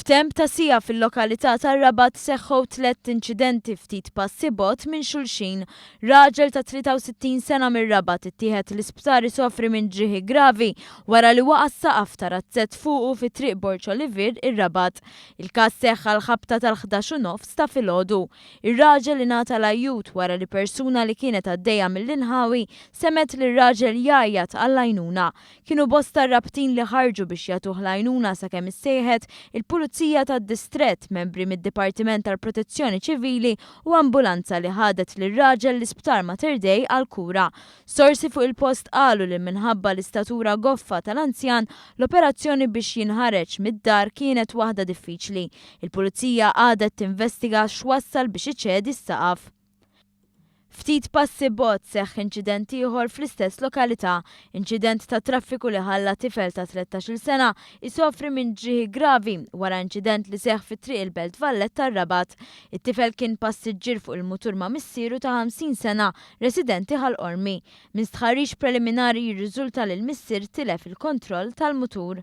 F'temp ta' siegħa fil-lokalità tar-Rabat seħħew tlett inċidenti ftit passi bogħod minn xulxin. Raġel ta' 63 sena mir-Rabat ittieħed l-isptar isofri minn ġrieħi gravi wara li waqa' s-saqaf ta' razzett fuqu fi Triq Borg Olivier, ir-Rabat. Il-każ seħħ għall-ħabta tal-ħdax u nofs ta' filgħodu. Ir-raġel ingħata l-ajjut wara li persuna li kienet għaddejja mill-inħawi semgħet lir-raġel jgħajjat għall-għajnuna. Kienu bosta r-rabtin li ħarġu biex jagħtuh l-għajnuna sakemm issejħet il-Pulizija tad-Distrett, membri mid-Dipartiment tal-Protezzjoni Ċivili u ambulanza li ħadet lir-raġel l-Isptar Mater Dei għall-kura. Sorsi fuq il-post qalu li minħabba l-istatura goffa tal-anzjan, l-operazzjoni biex jinħareġ mid-dar kienet waħda diffiċli. Il-Pulizija għadet tinvestiga x'wassal biex iċedi s-saqaf. Ftit passi bogħod seħħ inċident ieħor fl-istess lokalità, inċident tat-traffiku li ħalla tifel ta' 13-il sena jsofri minn ġrieħi gravi wara inċident li seħħ fi Triq il-Belt Valletta-r-Rabat. It-tifel kien passiġġier fuq il-mutur ma' missieru ta' 50 sena residenti Ħal Qormi. Minn stħarriġ preliminari jirriżulta li l-missier tilef il-kontroll tal-mutur.